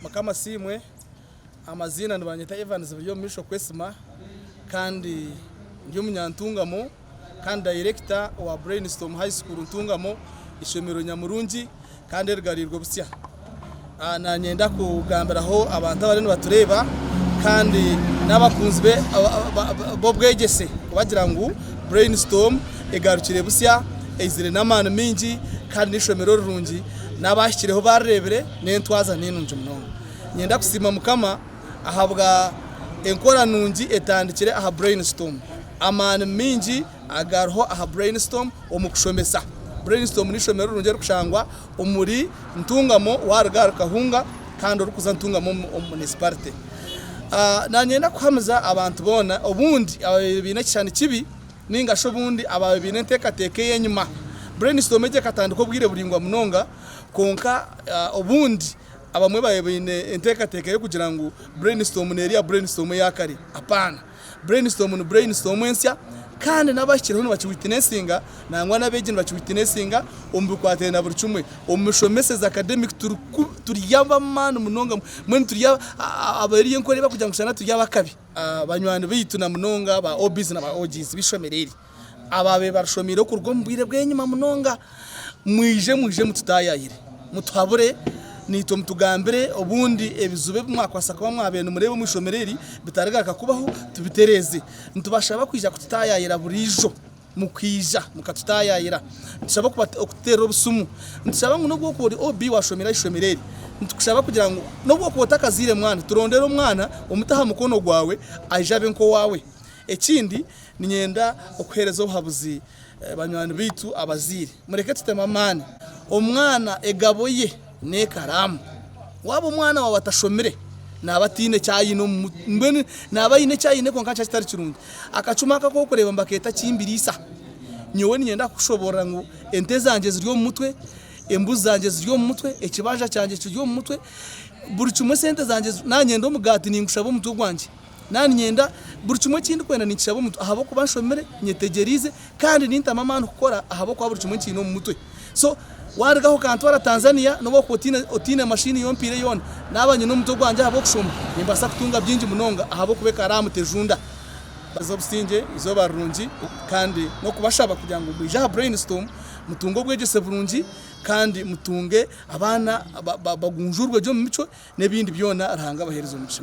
Mukama asiimwe, amaziina nibanyeta Evans Biryomumisho Kwesima kandi ndi omunyantungamo kandi dayirekita owa Brainstorm High School Ntungamo, eishomero nyamurungi kandi erigariirwe butsya. Nanyenda kugambiraho abantu abariyo nibatureeba kandi n'abakunzi b'obwegyese kubagira ngu Brainstorm egarukire butsya, eizire n'amaani maingi kandi n'eishomero rirungi n'abaahikireho baarireebire. N'entwaza ninungi munonga. Ninyenda kusiima Mukama ahabwa enkora nungi etandikire aha Brainstorm. Amaani maingi agariho aha Brainstorm omu kushomesa. Brainstorm n'eishomero rirungi erikushangwa omuri Ntungamo waaruga ahari Kahunga kandi orikuza Ntungamo omu Municipality. Nanyenda kuhamiza abantu boona obundi abaabaire baine ekishushani kibi ningashi obundi abaabaire baine enteekateeka ey'enyima. Brainstorm egi ekatandika obwire buraingwa munonga. Kwonka obundi abamwe babaire baine enteekateeka y'okugira ngu Brainstorm neeri ya Brainstorm eya kare. Apaana! Brainstorm ni Brainstorm ensya kandi n'abahikirweho nibakiwitinesinga nangwa n'abeegi nibakiwitinesinga omu bikwatiraine na buri kimwe. Omu mishomeseze, academic, turi turi ab'amaani munonga, mbwenu turi abari enkora ei barikugira ngu shana turi ab'akabi. Banywani baitu na munonga ba OBs na ba OGs b'eishomero eri. abaabaire barushomeire okuruga omu bwire bw'enyima munonga, mwije, mwije mututaayayire, mutuhabure naitwe mutugambire obundi ebizibu ebi mwakwaasa kuba mwabaire nimureeba omu ishomero eri bitarigaruka kubaho tubitereeze. Nitubashaba kwija kututaayayira buriijo mukwija mukatutaayayira. Nitushaba okututeerera obusimu, nitushaba ngu n'obu orikuba ori OB waashomire aha ishomero eri, nitukushaba kugira ngu n'obu orikuba otakazaire mwana, turondere omwana omute aha mukono gwaawe aije abe nk'owaawe. Ekindi Niinyenda okuheereza obuhabuzi banywani baitu abazaire. Mureke tutemu amaani. Omwana egabo ye n'ekaraamu. Waaba omwana waawe atashomire, naaba ataine eki aine omu mutwe. Mbwenu naaba aine eki aine kwonka nikyo kitari kirungi. Akacuma aka ak'okureeba mba keeta ki mbiriisa? Nyowe niinyenda kukushoboorora ngu ente zangye ziri omu mutwe, embuzi zangye ziri omu mutwe, ekibanja kyangye kiri omu mutwe, buri kimwe sente zangye, naanyenda omugaati ningushaba omutwe gwangye. Nanye ninyenda buri kimwe eki ndikwenda ninkishaba omu mutwe ahabw'okuba nshomire, nyetegyereize kandi nintamu amaani kukora ahabw'okuba buri kimwe nkiine omu mutwe. So waarugaho okantwara Tanzania n'obu orikuba otaine otaine mashiini y'omupiira yoona, naaba nyine omutwe gwangye ahabw'okushoma, nimbaasa kutunga bingi munonga ahabw'okuba ekaba ari aha mutejunda. Baaza obusingye, eizooba rirungi kandi n'okubashaba kugira ngu mwije aha Brainstorm mutunge obwegyese burungi kandi mutunge abaana ba ba bagunjuurwe gye omu micwe n'ebindi byona Ruhanga abaheereze omugisha.